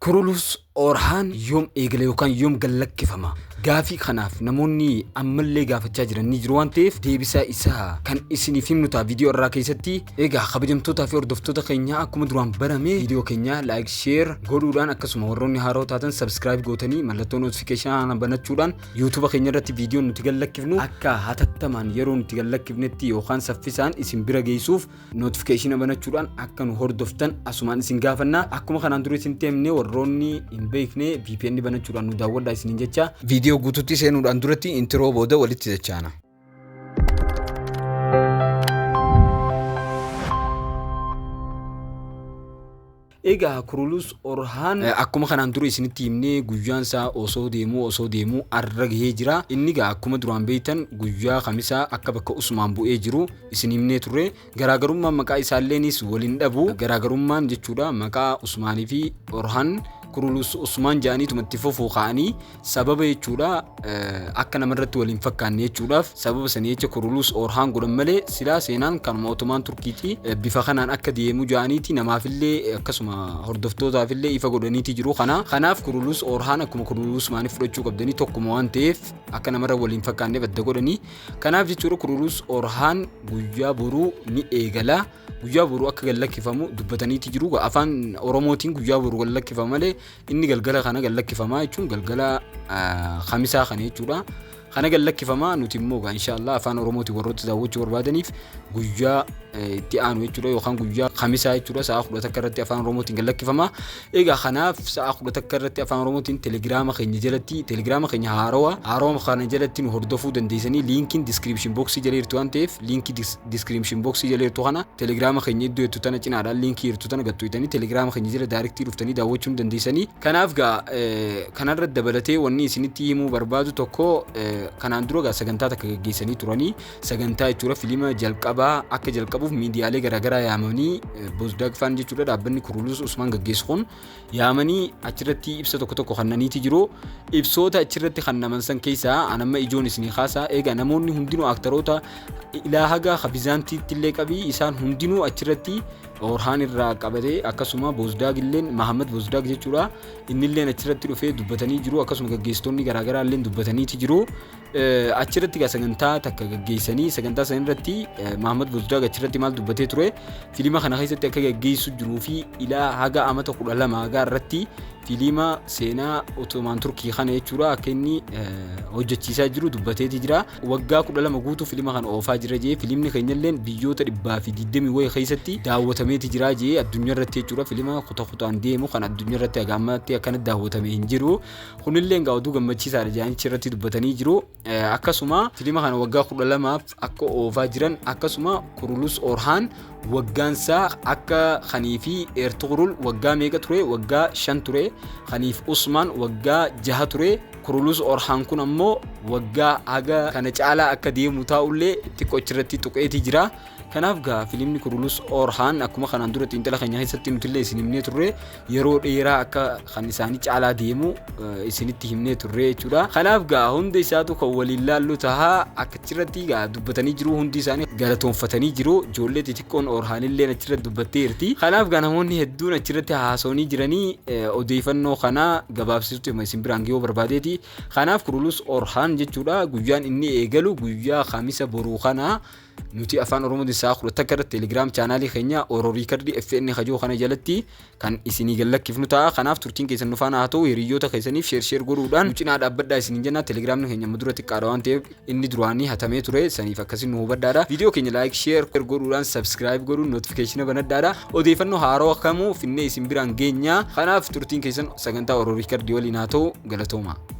Kurulus Orhaan yoom eegala yookaan yoom gad lakkifama? Gaafii kanaaf namoonni ammallee gaafachaa jiran ni jiru waan ta'eef deebisaa isaa kan isiniif himnu ta'a viidiyoo irraa keessatti. Egaa kabajamtootaa fi hordoftoota keenyaa akkuma duraan barame viidiyoo keenya like share godhuudhaan akkasuma warroonni haaroo taatan subscribe gootanii mallattoo notification kana banachuudhaan YouTube keenya irratti viidiyoon nuti gad lakkifnu akka hatattamaan yeroo nuti gad lakkifnetti yookaan saffisaan isin bira geessuuf notification banachuudhaan akka nu hordoftan asumaan isin gaafanna akkuma kanaan dura isin teemne warroonni hin beekne VPN banachuudhaan nu daawwadhaa isiniin jecha viidiyoo guutuutti seenuudhaan duratti intiroo booda walitti jechaana. Egaa Kurulus Orhaan akkuma kanaan dura isinitti himne guyyaan isaa osoo deemuu osoo deemuu arra gahee jira. Inni egaa akkuma duraan beektan guyyaa kamisaa akka bakka Usmaan bu'ee jiru isin himnee turre. Garaagarummaan maqaa isaalleenis wal hin dhabu. Garaagarummaan jechuudha maqaa Usmaanii fi Orhaan Kurulus Usmaan jedhaniituma itti fofookaa'anii sababa jechuudha akka namarratti wal hin fakkaanne jechuudhaaf sababa sanii jecha kuruluus oorhaan godhan malee silaa seenaan kanuma otomaan turkiiti bifa kanaan akka deemu ja'aniiti namaafillee akkasuma hordoftootaafillee ifa godhaniiti jiru kana kanaaf kuruluus oorhaan akkuma kuruluus maanii fudhachuu qabdanii tokkuma waan ta'eef akka namarra wal hin fakkaanne badda godhanii kanaaf jechuudha kuruluus oorhaan guyyaa boruu ni eegala guyyaa boruu akka gad lakkifamu dubbataniiti jiru afaan oromootiin guyyaa boruu gad lakkifama malee Inni galgala kana gad lakkifamaa jechuun galgala kamisaa kana jechuudha. Kana gad lakkifamaa nuti immoo egaa inshaallah afaan oromootiin warroota daawwachuu barbaadaniif guyyaa itti aanu jechuudha yookaan guyyaa kamisaa jechuudha sa'a kudha takka irratti afaan oromootiin gad lakkifamaa. Egaa kanaaf sa'a kudha takka irratti afaan oromootiin telegiraama keenya jalatti telegiraama keenya haarawa haarawa kana jalatti nu hordofuu dandeessanii liinkiin diskiripshin booksii jala jirti waan ta'eef liinkii description box jala jirtu kana telegraama keenya iddoo jettu tana cinaadhaan liinkii jirtu tana gad tuqxanii telegraama keenya jala daariktii dhuftanii daawwachuu ni dandeessanii. Kanaaf gaa eh, kanarra dabalatee wanni isinitti himuu barbaadu tokko eh, kanaan dura gaa sagantaa takka gaggeessanii turanii sagantaa jechuudha filiima jalqabaa akka jalqabuuf miidiyaalee garaagaraa yaamanii eh, Bozdag Faan jechuudha dhaabbanni Kurulus Usmaan gaggeessu kun yaamanii achirratti ibsa tokko tokko kannaniiti jiru. Ibsoota achirratti kannaman san keessaa an amma ijoon isinii kaasaa eega namoonni hundinuu aktaroota ilaa haga ka Bizaantiitti illee qabii isaan hundinuu achirratti Orhaan irraa qabatee akkasuma Boozdaag illeen Mahammad Boozdaag jechuudha inni illeen achirratti dhufee dubbatanii jiru akkasuma gaggeessitoonni garaagaraa illeen dubbataniiti jiru. Achi irratti egaa sagantaa takka gaggeessanii sagantaa sana irratti Mahamad Bozdaag achi irratti maal dubbatee ture fiilima kana keessatti akka gaggeessu jiruu fi ilaa haga amata kudha lama hagaa irratti fiilima seenaa Ottomaan Turkii kana jechuudha akka inni hojjechiisaa jiru dubbateeti jira. Waggaa kudha lama guutuu fiilima kana oofaa jira jee fiilimni keenyalleen biyyoota dhibbaa fi digdamii wayii keessatti daawwatameeti jira jee addunyaa irratti jechuudha fiilima kuta kutaan deemu kan addunyaa irratti haga ammaatti akkana daawwatame hin jiru. Kunillee egaa oduu gammachiisaadha jaanichi irratti dubbatanii jiru. Akkasuma filima kana waggaa kudha lamaaf akka oofaa jiran akkasuma Kurulus Orhaan waggaansaa akka kanii fi Ertugrul waggaa meeqa ture waggaa shan ture kaniif Usmaan waggaa jaha ture Kurulus Orhaan kun ammoo waggaa haga kana caalaa akka deemu taa'ullee xiqqoo achirratti tuqeetii jira. Kanaaf gaa filimni Kurulus Orhaan akkuma kanaan dura xiinxala keenya keessatti nutillee isin himnee turre yeroo dheeraa akka kan isaanii caalaa deemu eh, isinitti himnee turre jechuudha. Kanaaf gaa hunda isaatu kan waliin laallu taha akkachirratti gaa dubbatanii jiru hundi isaanii galatoonfatanii jiru ijoollee xixiqqoon Orhaanillee achirratti dubbattee jirti. Kanaaf gaa namoonni hedduun achirratti haasawanii jiranii eh, odeeffannoo kana gabaabsisuutti hima isin biraan gahuu barbaadeeti. Kanaaf Kurulus Orhaan jechuudha guyyaan inni eegalu guyyaa kamisa boruu kana Nuti afaan Oromooti sa'a 11 irratti Telegram chaanaalii keenya Oro Riikardii FN kajoo kana jalatti kan isinii gallakkifnu ta'a. Kanaaf turtiin keessan nufaana haa ta'u hiriyyoota keessaniif sheer sheer godhuudhaan nu cinaa dhaabbadhaa isiniin jenna. Telegramni keenya amma dura xiqqaadha waan ta'eef inni duraanii hatamee ture saniif akkasiin nu hubadhaadha. Viidiyoo keenya like sheer godhuudhaan subscribe godhuun notification banadhaadha. Odeeffannoo haarawa kamuu finnee isin biraan geenya. Kanaaf turtiin keessan sagantaa Oro Riikardii waliin haa ta'u galatoomaa.